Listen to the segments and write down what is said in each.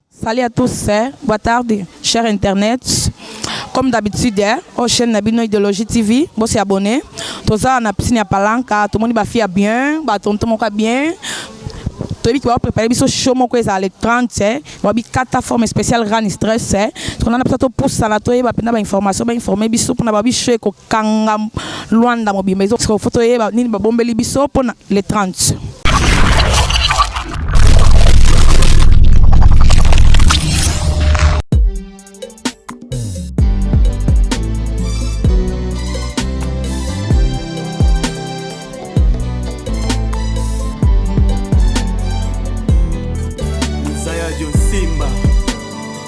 Salut à tous, boa tarde, cher internet. Comme d'habitude, au chaîne na bino Ideologie TV, bo se abonner. Toza na piscine ya Palanca, tout le monde ba fille ya bien, ba tonton moko ya bien. toyebi ke baprépare biso show moko ezala le 30 babi kata forme spéciale rani stress tokona na biso topusana toyeba mpenza bainformation bainforme biso mpona babi show eko kanga Luanda mobimba ezo sikoyo faut toyeba nini babombeli biso mpo na le 30.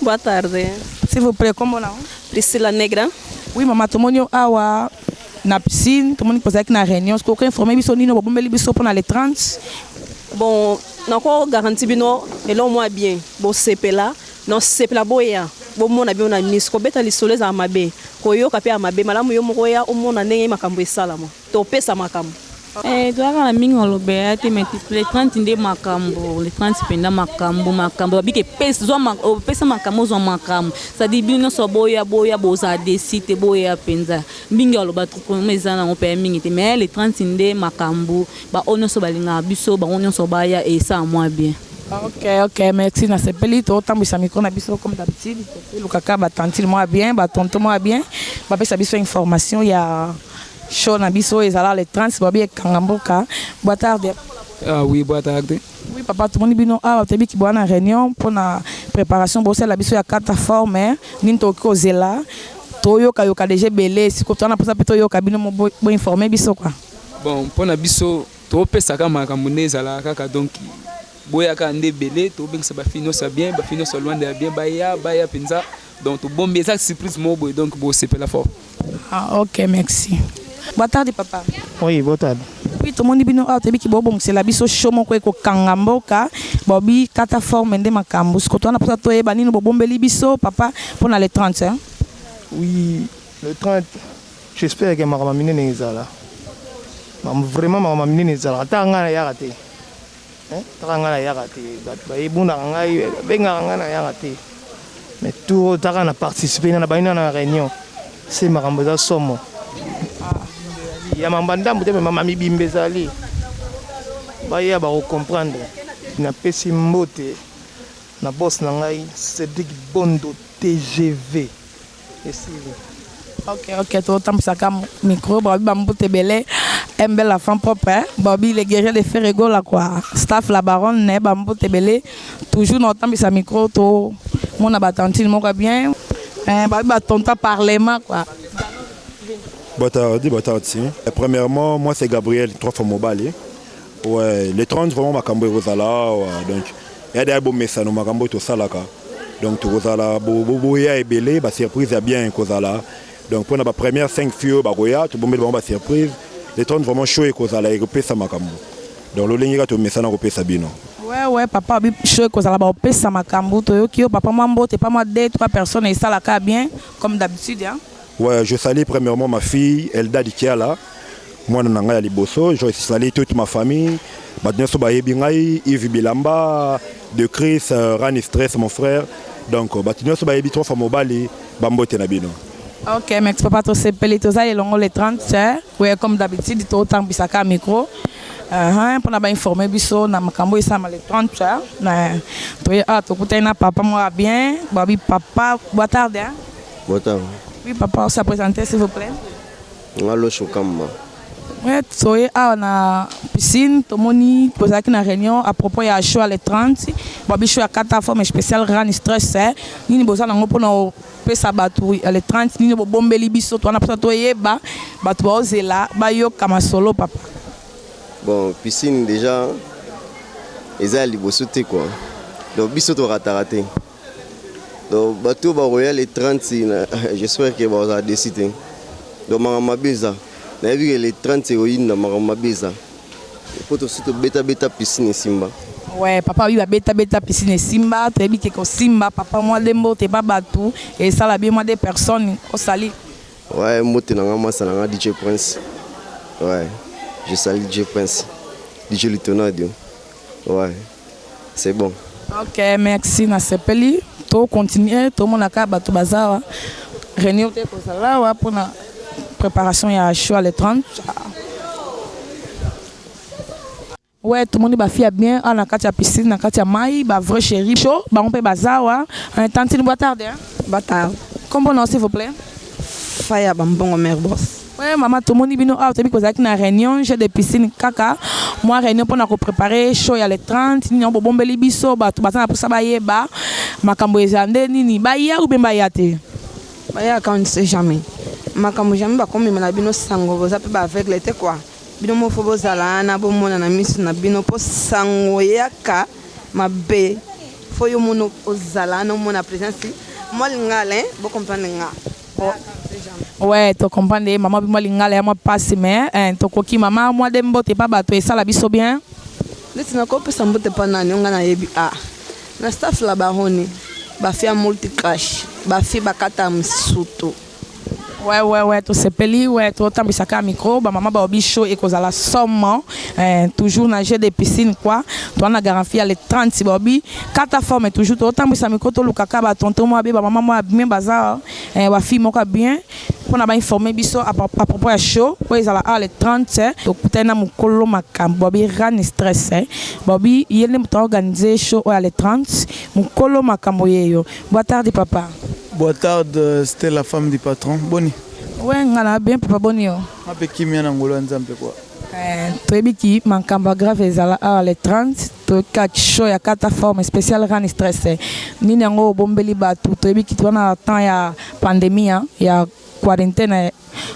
Boa tarde. S'il vous plaît, kombo na Priscilla Negra. Oui maman, tomoni yo awa na piscine, tomoni que ozalaki na réunion. Est-ce que okoki informer biso nini bobombeli biso mpo na le 30? Bon, nako garanti bino eloko mwa bien. Bosepela, nosepela boya. bomona bino na miso kobeta lisolo ezala mabe koyoka mpe ya mabe malamu yo moko oya omona ndenge makambo esalama To pesa makambo. Eh, toyaka na mingi maloba ya te mais le 30 nde makambo le 30 mpenza makambo makambo babika opesa makambo ozwa makambo cetadire bino nyonso boya boya bozala desi te boya mpenza mingi aloba trukoma eza nango mpe ya mingi te mais le 30 nde makambo baoyo nyonso balingaka biso bango nyonso baya esala mwa bien ok ok merci nasepeli totambwisa mikro na biso comme d'habitude tolukaka batantile mwa bien batonto mwa bien bapesa biso information ya Show na biso ezala le 30 babi ekanga mboka. Boa tarde. Ah oui, boa tarde. Oui papa, tomoni bino awa toyebi ki boa na réunion mpo na préparation bosala biso ya kata forme nini tokoki kozela toyoka yoka déjà ebele siko toza na mposa mpe toyoka bino mo bo bo informer biso quoi. Bon, mpo na biso topesaka makambo nde ezalaka kaka donc boyaka nde ebele tobengisa ba filles nyonso ya bien, ba filles nyonso ya Luanda ya bien baya baya mpenza. Donc tobombi eza surprise moko boye donc bosepela fort. Ah ok merci. Boa tarde papa. Oui, boa tarde. Oui, tomoni bino awa toyebi kibobongisela biso show moko ekokanga mboka bobi kata forme nde makambo sikoto wana mposa toyeba nini bobombeli biso papa mpo na le 30 hein? Oui, le 30 j'espère que makambo minene ezala vraiment makambo minene ezala ata ngai nayaka te Taka nga na yaka te batu ba ebunaka ngai babengaka nga na yaka te mais tour oyo taka na participer na bani na réunion se makambo eza somo ya mamba ndambu te mais mama mibimba ezali baya bako comprendre napesi mbote na boss na ngai Cedric Bondo TGV Esili. Ok, ok, totambwisa ka micro, babi ba mbuta ebele. MB la femme propre, hein? babi le guerrier de Ferre Gola quoi. Staff la baronne ne ba mbuta ebele. Toujours na otambwisa micro to mona ba tantine moko ya bien. Eh, babi ba tonton ya parlement quoi. Boa tarde, boa tarde sim. Premièrement, moi c'est Gabriel, trois fois mobali. Ouais, le 30 vraiment makambo ekozala awa donc ya daya bomesano makambo tosalaka donc tokozala boya ebele ba surprise ya bien ekozala donc mpona ba première 5 fille oyo bakoya tobombeli bango ba surprise le 30 vraiment show ekozala ekopesa makambo donc lolenge kaka tomesana kopesa bino wewe papa obi show ekozala baopesa makambo toyoki yo papa mwa mbote pa mwa 2 3 personnes esalaka bien comme d'habitude hein? Ouais, je salue premièrement ma fille Elda Dikiala, moi na ngai ya liboso, je salue toute ma famille, bato nyonso bayebi ngai, Yves Bilamba, de Chris, euh, Rani Stress mon frère, donc euh, bato nyonso bayebi trop fa mobali, bambote na bino. Ok, merci papa, tosepeli toza elongo le 30 hein? Oui, comme d'habitude totambwisaka micro Uh-huh, mpo na bainforme biso na makambo esalama le 30 hein? na toye awa ah, tokutani na papa moko ya bien babi papa boa tarde hein? Botam. Oui, papa, on s'est présenté, s'il vous plaît. Ngalo Shukamba. Oui, soyez à la piscine, tomoni, posaki na réunion à propos ya choix le 30. Babi choix à quatre forme spéciale rani stress. Hein. Nini boza nango pona pesa bato ya le 30 nini bobombeli biso twana mposa toyeba bato baozela bayoka masolo papa bon piscine déjà eza ya liboso te kua donc biso torataka te Donc bato oyo bakoya le 30 na j'espère que bakozala desi te donc makambo mabe eza nayebi ke le 30 ekoyinda makambo mabe eza mpo tosi tobetabeta piscine esimba Ouais, papa oui babeta beta piscine esimba toyebi ke kosimba papa mwa de mbote ba bato esala bien mwa de personnes osali ouais mbote na nga masa na nga dj prince ouais je sali dj prince dj litonadio ouais c'est bon. Ok merci na sepeli to continuer to mona ka bato baza awa reunion te kozala awa mpona preparation ya choix le 30 Ouais, tout le monde ba fia bien. On a katia piscine, on a katia mai, ba vrai chéri chaud, ba on peut bazawa. On est tantine boa tarde. Hein? Boa tarde. Comment on s'il vous plaît? Faya bambongo mère boss. Oui maman tomoni bino awa toyebi kozalaki na réunion jeu de piscine kaka mwa réunion mpona koprépare show ya le 30 nini yango bobombeli biso bato baza na mposa bayeba makambo ezala nde nini baya oubien baya te baya quand c'est jamais makambo jamais bakomema na bino sango boza mpe baaveugle te kua bino mofo bozala wana bomona na miso na bino mpo sango eyaka mabe fo yo mono ozala wana omona présence mwa lingala bocomprendre nga Ouais, to comprendre ye mama bima lingala ya mwa pasi mais eh, tokoki mama mwa de mbote pa bato esala biso bien neti nakopesa mbote pa nani onga nayebi a na staff la baroni bafi ya multicrash bafi bakata msutu Ouais, ouais, ouais, tosepeli ouais, totambwisa kaka micro bamama baobi show ekozala somo eh, toujours na jeu de piscine quoi toa na garantie ya le 30 baobi kata forme toujours totambwisa mikro tolukaka batonton mwa be bamama mwa bien baza eh, bafille moko ya bien mpo na bainforme biso à pro- à propos ya show oyo ezala awa le 30 eh, tokutani na mokolo makambo babi rane stress eh. babi ye nde moto aorganize show oyo ya le 30 mokolo makambo yeyo boatardi papa Boa tarde, Stella, femme du patron. Boni, we nga na bien papa boni yo mape kimia na ngolo ya Nzambe kwa. Eh, toyebi ki makambo ya grave ezala awa ah, le 30 toyoki kaka show ya kata forme spécial rani stress eh. nini yango obombeli bato toyebi ki toza na temps ya pandémie hein, ya quarantaine ya eh,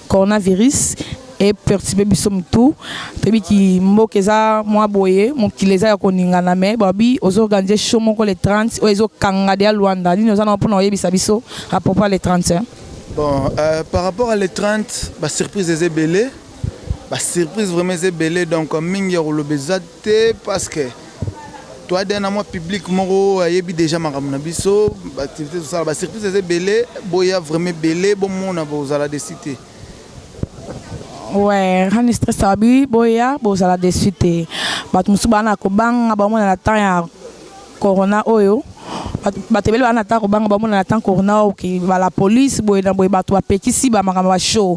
coronavirus eperturbe biso motu toyebi ki mboka eza mwa boye mokili eza ya koningana me babi ozoorganize show moko le 30 oyo ezokanga deya luanda nini oza nango mpona koyebisa biso apropos ya le 30 bon euh, par rapport à le 30 basurprise eza ebele Ba surprise vraiment eza ebele donc mingi ya koloba eza te parce que toi de na mwa public moko ayebi déjà makambo na biso baactivité tosala ba surprise eza ebele boya vraiment ebele bomona bozala desi te ouais rani stress abi boya bozala desi te bato mosusu bana kobanga bamona na temps ya corona oyo bato ebele bana ata kobanga bamona na temps corona oyo bala police boye na boye bato bapekisi bamakambo ba show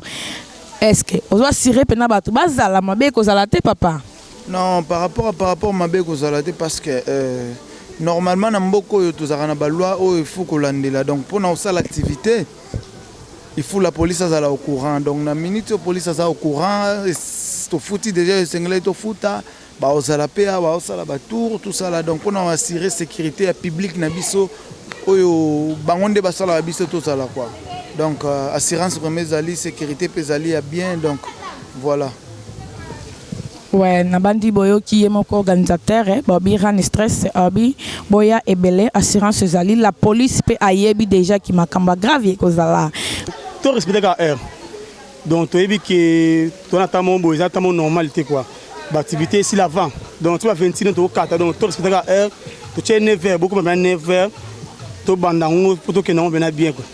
Est-ce que ozo assurer pena batu bazala mabe kozala te papa? Non, par rapport à par rapport mabe kozala te parce que euh, normalement na mboka oyo tozalaka na baloi oyo il faut kolandela donc mpona kosala activité il faut la police azala au courant donc na minute oyo police aza au courant tofuti déjà esengelaki tofuta Bakozala pe awa osala ba tour tout ça là donc pona ko assurer securite ya public na biso oyo bango nde basalaka biso tozala quoi donc euh, assurance vraiment ezali securite pe ezali ya bien donc voilà Ouais, nabandi boyoki ye moko organisateur eh, bobi rani stress abi boya ebele assurance ezali la police pe ayebi déjà ki makambo grave ekozala to respecter ka heure Donc toyebi ke tona ata mo boye eza ata mo normal te quoi. Ba activité ici l'avant. Donc tu vas 26 to kata donc to respecter ka heure. To tche 9h beaucoup même 9h. To banda ngo poto ke nango bena bien quoi.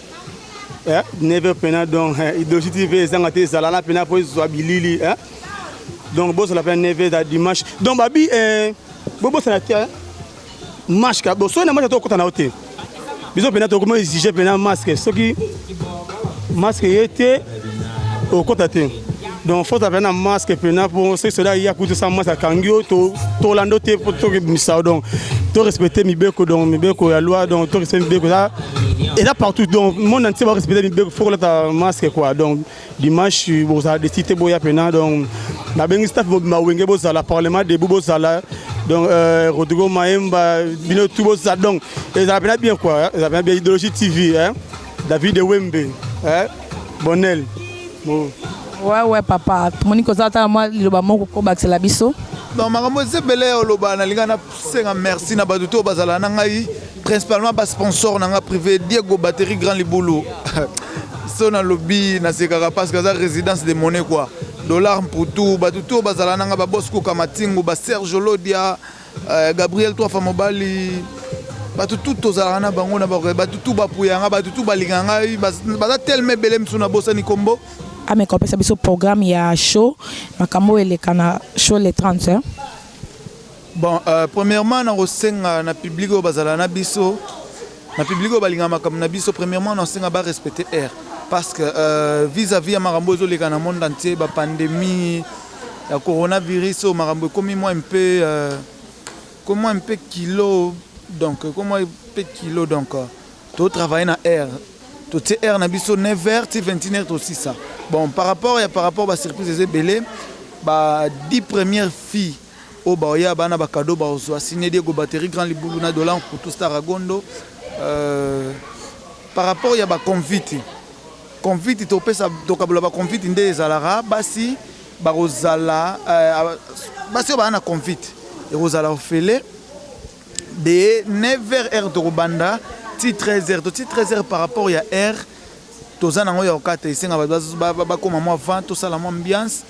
Eh 9h pena donc eh, idoji TV ezanga te zala na pena po ezwa bilili eh. Donc bozo la pena 9h da dimanche. Donc babi eh bobo sana te. Eh? Mashka, bon, soki na mashka tokota na yo te biso mpena tokoma exige mpena masque soki masque ye te okota te donc faut ozala na masque mpena mpo soki soda ya kutu sa masque akangi yo tolanda yo te mpo tokebimisa yo donc to respecte mibeko donc mibeko ya loi donc to respecte mibeko eza partout donc monde entier ba respecte mibeko faut kolata masque quoi donc dimanche bozala desi te boya mpena donc nabengi staff mobimba wenge bozala parlement debout bozala donc euh, rodrigo maemba bino tu bozala donc ezala mpena bien kua hein. ezala mpena bien idéologie tv hein? david wembe hein? bonel bon. ouais, ouais, papa tomoni kozala tala mwa liloba moko kobakisela biso donc makambo eza ebele ya oloba nalinga Senga merci na batu to bazala na ngai principalement ba sponsor na nga privé Diego batterie grand libulu so na lobi na sekaka parce que aza résidence de monnaie quoi dollar mputu batu to bazala na nga ba boss kuka matingu ba Serge Lodia euh, Gabriel Twafa Mobali batu tout tozalaka na bango na bango batu tout bapuya nga batu tout balinga ngai baza tellement ebele misu na bosani kombo ameka opesa biso programme ya show makambo elekana show le 30 Bon euh, premièrement na kosenga na public oyo bazala na biso na public oyo balinga makambo na biso premièrement na kosenga ba respecter air parce que euh, vis à vis ya makambo ezoleka na monde entier ba pandémie ya coronavirus oyo makambo ekomi mwa mpe euh, komi mwa mpe kilo donc komi mwa mpe kilo donc to travailler na air totie air na biso 9 heures ti 21 heures tosisa bon par rapport ya par rapport ba surprise eza ebele ba 10 premières filles Oyo bao ya bana ba cadeau bao zua signe Diego batterie grand libulu na dola nkutu star agondo euh, par rapport ya ba convite convite topesa tokabola ba convite nde ezalaka basi bakozala euh, basi oyo baa na convite ekozala ofele de 9h heure tokobanda ti 13h to ti 13h par rapport ya heure toza nango ya kokata esenga bato bakoma mwa 20 tosala mwa ambiance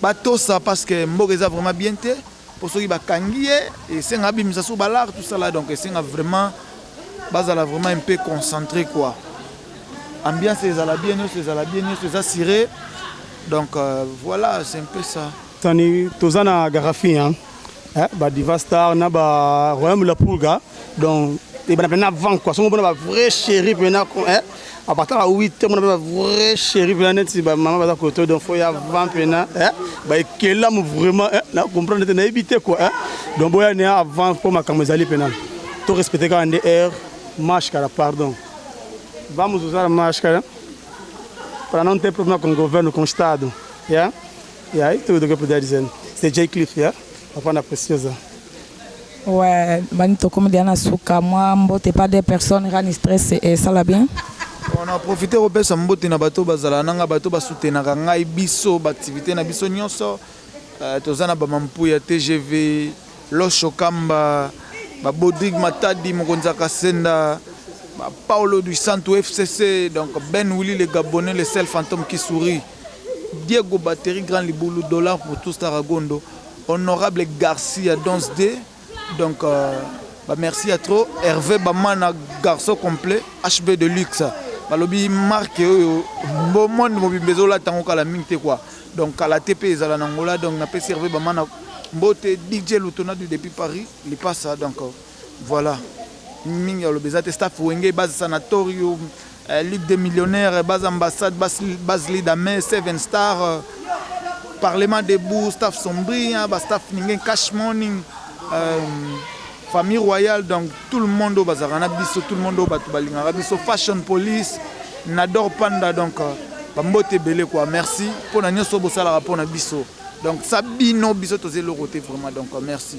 Ba tosa parce que mboka eza vraiment bien te po soki ba kangi ye esenga abimisa sur ba lar tout ça là donc esenga vraiment bazala vraiment un peu concentré quoi. Ambiance ezala bien nioso ezala bien nioso eza sire donc euh, voilà c'est un peu ça. Sani toza na Garafi hein. eh, ba diva star na ba royaume la pulga donc ebana mpena avant quoi songo mpona ba vrai chéri mpena eh, apataka 8 te mona mpe ba vrai chéri mpena neti bamama baza koto donc fo ya avant mpena eh, baekelamu vraiment eh, na comprendre te nayebi te quoi eh, donc boya ne avant mpo makambo ezali mpena to respecte kaka nde heure marche kala pardon vamos usar máscara para não ter problema com o governo, com o Estado. Yeah? Yeah, it will get that reason. C'est Jay Cliff, yeah? Papa na Preciosa. Ouais, bani tokomi dia na suka mwa mbote pas des personnes rani stress et ça la bien. On a profité kopesa mbote na bato bazala nanga bato basutenaka ngai biso baaktivité na biso nyonso euh, toza na bamampuya tgv losho kamba babodrig matadi mokonzi ya kasenda Paulo du Santo FCC, donc Ben Willy le Gabonais, le seul fantôme qui sourit. Diego batterie grand libulu dollars pour tous taragondo honorable garcia dons de donc euh, ba merci ya trop herve bamana garçon complet hb de luxe balobi marque oyo mbo monde mobimba ezolata yango kala mingi te kua donc kala te mpe ezala na ngola donc napesi herve bamana mbote dj lutona du depuis paris lipasa donc euh, Voilà mingi ya loba eza te staff wenge base sanatorium eh, ligue des millionnaires base ambassade base, base lidame seven star euh, parlement debout staff sombria ba staff ninge cash morning euh, famille royale donc tout le monde oyo bazalaka na biso tout le monde oyo bato balingaka biso fashion police nador panda donc euh, bambote ebele kua merci mpo na nyonso bosalaka mpo na biso donc sa bino biso toza eloko te vraiment donc euh, merci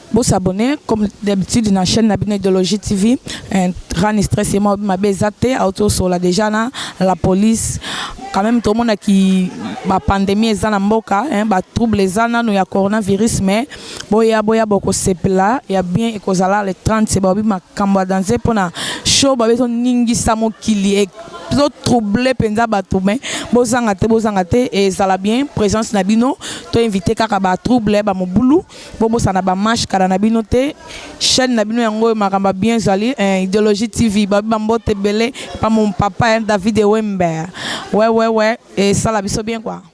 Bo s'abonner comme d'habitude na chaîne na bino Idologie TV. Un grand stress et moi ma bezate auto sur la déjà na la police. Quand même tout le monde a qui ba pandémie eza na mboka hein ba trouble eza na no ya coronavirus mais boya boya boko sepela ya bien ekozala le 30 c'est ba bi makambo ya danse pona show ba bezo ningisa mokili et zo troubler penza bato mais bozanga te bozanga te ezala bien présence na bino to inviter kaka ba trouble ba mobulu Bobosana ba mash kala na bino te chaîne na bino yango oyo makambo ya bien ezali eh, ideologie tv babi bambote ebele pa mon papa eh, david ewembe wewewe esala biso bien quoi